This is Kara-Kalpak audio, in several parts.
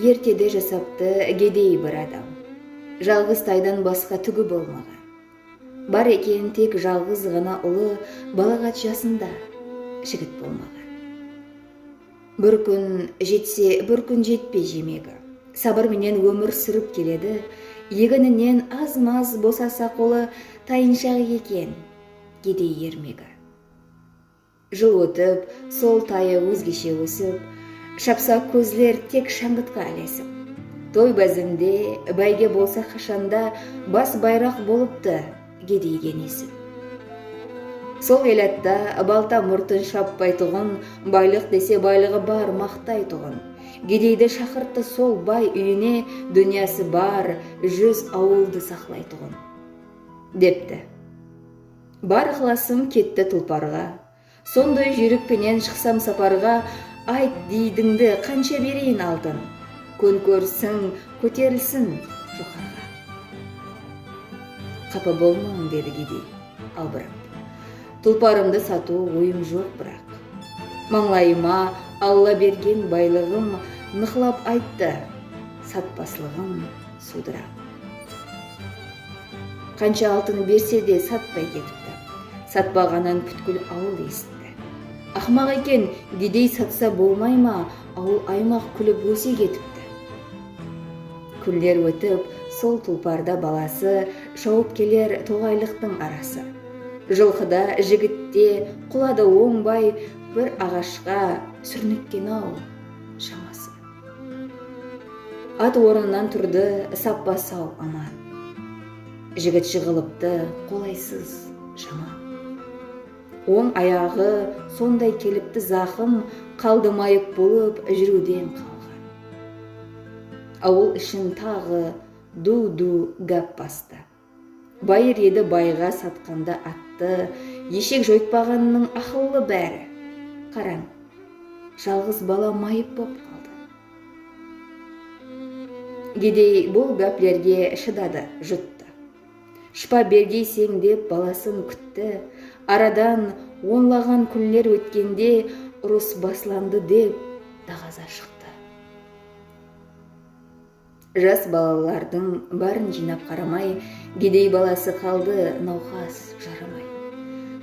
Ertede jasaptı gedey bir adam. Jalǵız taydan basqa túgi bolmaǵan. Bar eken tek jalǵız ǵana ulı balaǵat jasında jigit bolmaǵan. Bir kún jetse bir kún jetpey jemegi sabır menen ómir súrip keledi, egininen az-maz bosasa qolı tayınshaq eken gedey ermegi. Jıl ótip, sol tayı ózgeshe ósip, Shapsa kózler tek shańǵıtqa ilesip. Toy bázemde, báyge bolsa qashanda, Bas bayraq bolıptı gedeyge nesip. Sol elatta balta murtın shappaytuǵın, Baylıq dese baylıǵı bar maqtaytuǵın. Gedeydi shaqırttı sol bay úyine, Dúnyası bar júz awıldı saqlaytuǵın. Depti. Bar ıqlasım ketti tulparǵa. Sonday júrek penen shıqsam saparǵa Ayt, diydińdi qansha bereyin altın, Kún kórsin, kóterilsin joqarǵa. Qapa bolmań, dedi gedey, albırap, Tulparımdı satıw oyım joq biraq. Mańlayıma Alla bergen baylıǵım Nıqlap ayttı, satpaslıǵım. Sudra. Qansha altın berse de satpay ketipti. Satpaǵanın pútkil awıl esitti. Aqmaq eken, gidey satsa bolmay ma, awıl-aymaq kúlip óse ketipti. Kúnler ótip, sol tulparda balası shawıp keler toǵaylıqtıń arası. Jılqı da, jigit te, qula da ońbay bir aǵashqa súrnekkenaw shaması. At ornınan turdı, sappa sau, aman. Jigit jıǵılıptı, qolaysız, jaman. Oń ayaǵı sonday kelipti zaqım, qaldı mayıp bolıp júriwden qalǵan. Awıl ishin taǵı du-du gáp bastı. Bayır edi bayǵa satqanda attı, Eshek joytpaǵannıń aqıllı bári. Qarań, jalǵız bala mayıp bop qaldı. Gedey bul gáplerge shıdadı, juttı. Shıpa bergeyseń dep balasın kútti. Aradan onlaǵan kúnler ótkende urıs baslandı dep daǵaza shıqtı. Jas balalardıń bárin jıynap qaramay, Gedey balası qaldı nawqas, jaramay.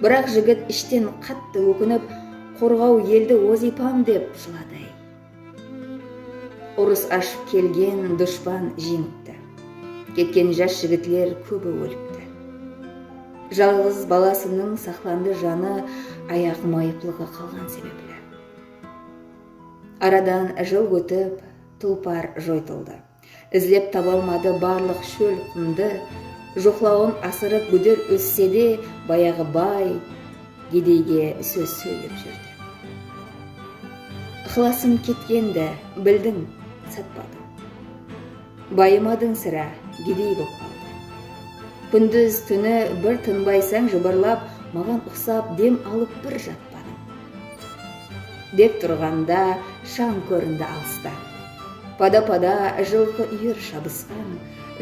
Biraq jigit ishten qattı ókinip, Qorǵaw eldi wazıypam dep jıladı-áy. Urıs ashıp kelgen dushpan jeńipti. Ketken jas jigitler kóbi ólipti. Jalǵız balasınıń saqlandı janı Ayaq mayıplıǵı qalǵan sebepli. Aradan jıl ótip. Tulpar joytıldı. Izlep tabalmadı barlıq shól qumdı, Joqlawın asırıp gúder ósse de, Bayaǵı bay gedeyge sóz sóylep júrdi. Ixlasım ketkendi, bildiń, satpadıń. Bayımadıń sirá, gedey bop qaldı. Kúndúz, túni bir tınbaysań jıbırlap, Maǵan uqsap dem alıp bir jatpadıń. Dep turǵanda shań kórindi alısta. Pada-pada jılqı úyer shabısqan.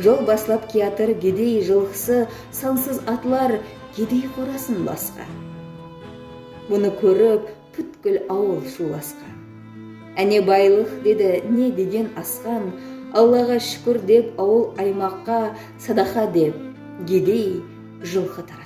Jol baslap kiyatır gedey jılqısı sansız atlar gedey qorasın basqan. Bunı kórip pútkil awıl shuwlasqan. Áne baylıq dedi ne degen asqan, Allaǵa shúkir dep awıl-aymaqqa sadaqa dep gedey jılqı taratqan.